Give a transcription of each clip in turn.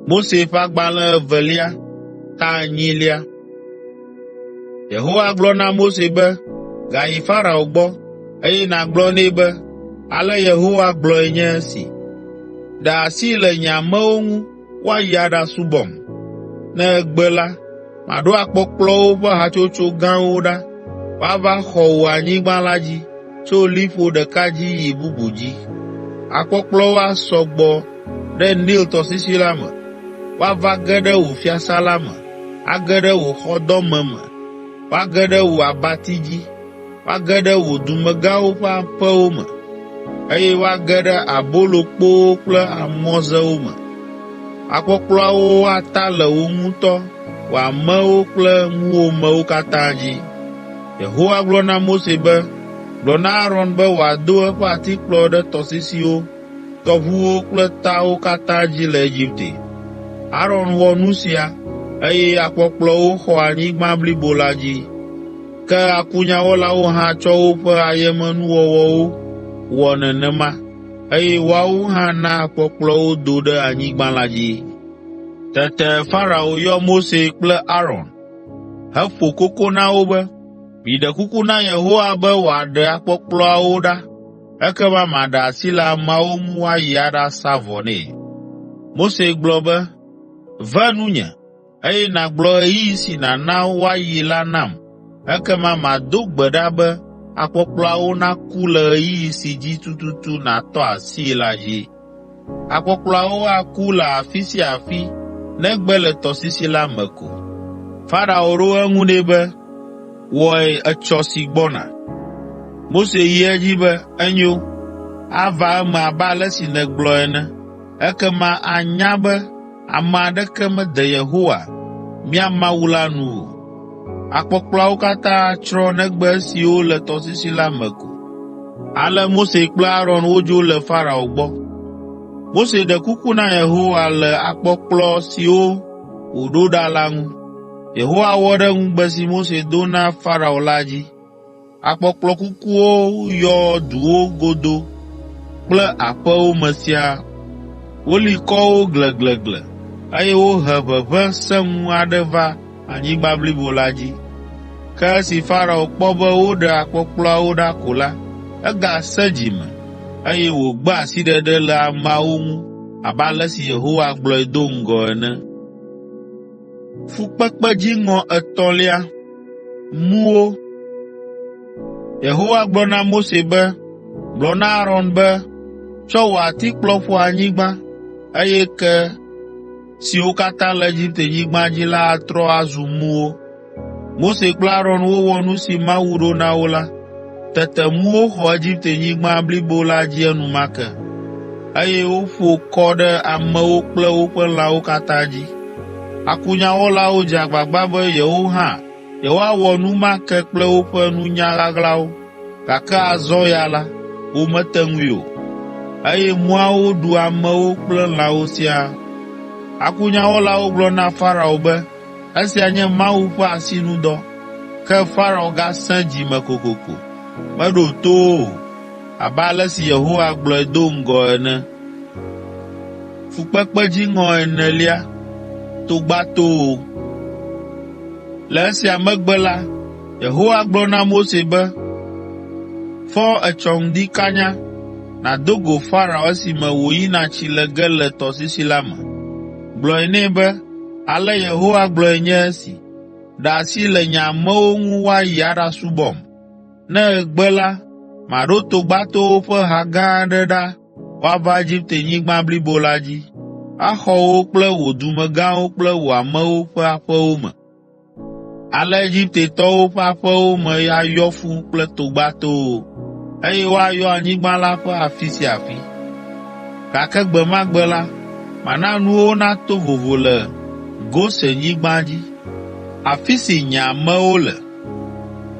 Mose ƒe agbalẽ evelia, ta enyilia. Yehowa gblɔ na Mose be, “Gayi Farao gbɔ, eye nàgblɔ nɛ be, ‘Ale Yehowa gblɔe nye esi: Ɖe asi le nye amewo ŋu, woayi aɖasubɔm. Ne egbe la, maɖo akpɔkplɔwo ƒe hatsotso gãwo ɖa, woava xɔ wò anyigba la dzi, tso liƒo ɖeka dzi yi bubu dzi. Akpɔkplɔwo asɔ gbɔ ɖe Nil tɔsisi la me, woava ge ɖe wò fiasã la me, age ɖe wò xɔdɔme me, woage ɖe wò abati dzi. Woage ɖe wò dumegãwo ƒe aƒewo me, eye woage ɖe abolokpowo kple amɔzewo me. Akpɔkplɔawo ata le wò ŋutɔ wò amewo kple ŋuwòmewo katã dzi.” Yehowa gblɔ na Mose be, “Gblɔ na Aron be wòado eƒe atikplɔ ɖe tɔsisiwo, tɔʋuwo kple tawo katã dzi le Egipte.” Aron wɔ nu sia, eye akpɔkplɔwo xɔ anyigba blibo la dzi. Ke akunyawɔlawo hã tsɔ woƒe ayemenuwɔwɔwo wɔ nenema eye woawo hã na kpɔkplɔ wo do ɖe anyigba la dzi. Tete Farao yɔ Mose kple Aron heƒo koko na wo be, “Miɖe kuku na Yehowa be wòaɖe akpɔkplɔawo ɖa, ekema maɖe asi le ameawo ŋu woayi aɖasa vɔ nɛ.” Mose gblɔ be, “Ve nunye.” eye nàgblɔ ɣeyiɣi si nàna woayi la nam. Ekema mado gbe ɖa be akpɔkplɔawo naku le ɣeyiɣi si dzi tututu nàtɔ asii la dzi. Akpɔkplɔawo aku le afi sia afi negbe le tɔsisi la me ko.” Farao ɖo eŋu nɛ be, “Wɔe etsɔ si gbɔna.” Mose yi edzi be, “Enyo, ava eme abe ale si nègblɔ ene.” Ekema anya be Ame aɖeke mede Yehowa, mía Mawu la nu o. Akpɔkplɔawo katã atsrɔ̃ negbe esiwo le tɔsisi la me ko. Ale Mose kple Aron wodzo le Farao gbɔ. Mose ɖe kuku na Yehowa le akpɔkplɔ siwo wòɖo ɖa la ŋu. Yehowa wɔ ɖe ŋugbe si Mose do na Farao la dzi. Akpɔkplɔ kukuwo yɔ duwo godo kple aƒewo me siaa. Woli kɔ wo gleglegle, eye wohe ʋeʋẽ sẽŋu aɖe va anyigba blibo la dzi. Ke esi Farao kpɔ be woɖe akpɔkplɔawo ɖa ko la, egasẽ dzi me, eye wògbe asiɖeɖe le ameawo ŋu abe ale si Yehowa gblɔe do ŋgɔ ene. Fukpekpe dziŋɔ etɔ̃lia. Mu wo. Yehowa gblɔ na Mose be, “Gblɔ na Aron be, ‘Tsɔ wò atikplɔ ƒo anyigba, eye ke siwo katã le Egiptenyigba dzi la atrɔ azu muwo.’ ” Mose kple Aron wowɔ nu si Mawu ɖo na wo la. Tete ŋuwo xɔ Egipte-nyigba blibo la dzi enumake, eye woƒo kɔ ɖe amewo kple woƒe lãwo katã dzi. Akunyawɔlawo dze agbagba be yewo hã yewoawɔ nu ma ke kple woƒe nunya ɣaɣlawo, gake azɔ ya la, womete ŋui o, eye muawo ɖu amewo kple lãwo siaa. Akunyawɔlawo gblɔ na Farao be, Esia nye Mawu ƒe asinudɔ. Ke Farao gasẽ dzi me kokoko, meɖo to wo o, abe ale si Yehowa gblɔe do ŋgɔ ene. Fukpekpe dziŋɔ enelia togbatowo Le esia megbe la, Yehowa gblɔ na Mose be, Fɔ etsɔ ŋdi kanya, nàdo go Farao esime wòyina tsi le ge le tɔsisi la me. Gblɔe nɛ be, Ale Yehowa gblɔe nye esi, Ɖe asi le nye amewo ŋu woayi aɖasubɔm. Ne ègbe la, maɖo togbatowo ƒe ha gã aɖe ɖa woava Egiptenyigba blibo la dzi, axɔ wò kple wò dumegãwo kple wò amewo ƒe aƒewo me. Ale Egiptetɔwo ƒe aƒewo me ayɔ ƒu kple togbatowo, eye woayɔ anyigba la ƒe afi sia afi. Gake gbe ma gbe la, mana nuwo nato vovo le Gosenyigba dzi, afi si nye amewo le.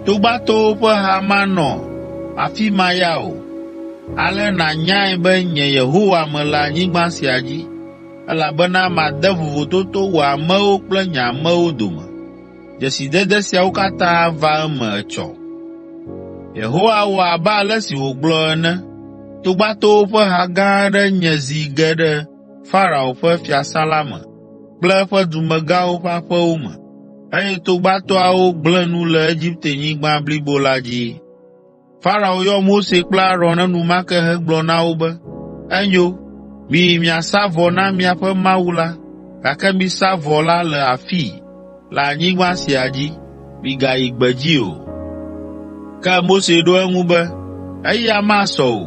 Togbatowo ƒe ha manɔ afi ma ya o. Ale nànyae be nye Yehowa mele anyigba sia dzi. Elabena made vovototo wò amewo kple nye amewo dome. Dzesidede siawo katã ava eme etsɔ.” Yehowa wɔ abe ale si wògblɔ ene. “Togbatowo ƒe ha gã aɖe nye zi ge ɖe Farao ƒe fiasã la me kple eƒe dumegãwo ƒe aƒewo me, eye togbatoawo gblẽ nu le Egiptenyigba blibo la dzi.” Farao yɔ Mose kple Aron enumake hegblɔ na wo be, “Enyo, miyi miasa vɔ na miaƒe Mawu la, gake misa vɔ la le afii, le anyigba sia dzi, migayi gbedzi o.” Ke Mose ɖo eŋu be, “Eya masɔ o!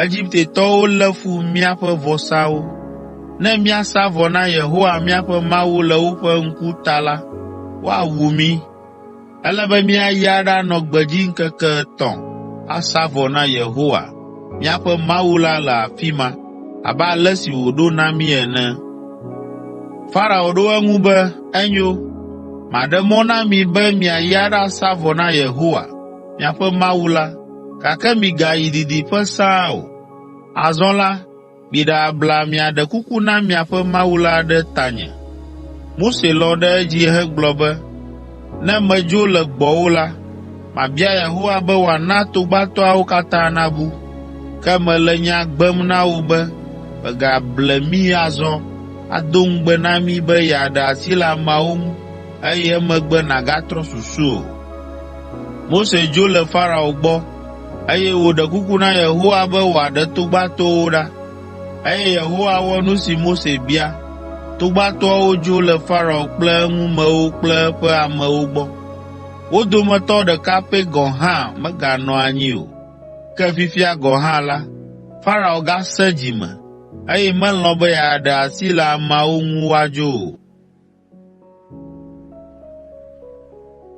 Egiptetɔwo lé fu míaƒe vɔsawo. Ne míasa vɔ na Yehowa míaƒe Mawu le woƒe ŋku ta la, woawu mí.” Ele be míayi aɖanɔ gbedzi ŋkeke etɔ̃ asa vɔ na Yehowa, míaƒe Mawu la le afi ma, abe ale si wòɖo na mí ene.” Farao ɖo eŋu be, “Enyo, maɖe mɔ na mi be miayi aɖasa vɔ na Yehowa, miaƒe Mawu la, gake migayi didiƒe sãa o. Azɔ la, Miɖe abla miaɖe kuku na miaƒe Mawu la ɖe tanye.” Mose lɔ̃ ɖe edzi hegblɔ be, “Ne medzo le gbɔwò la, mabia Yehowa be wòana togbatɔawo katã nabu. Ke mele nya gbem na wò be mègable mí azɔ, ado ŋugbe na mí be yeaɖe asi le ameawo ŋu, eye emegbe nàgatrɔ susu o.” Eye wòɖe kuku na Yehowa be wòaɖe togbatoawo ɖa. Eye Yehowa wɔ nu si Mose bia. Togbatoawo dzo le Farao kple eŋumewo kple eƒe amewo gbɔ. Wo dometɔ ɖeka pɛ gɔ̃ hã meganɔ anyi o. Ke fifia gɔ̃ hã la, Farao gasẽ dzi me, eye melɔ̃ be yeaɖe asi le ameawo ŋu woadzo o.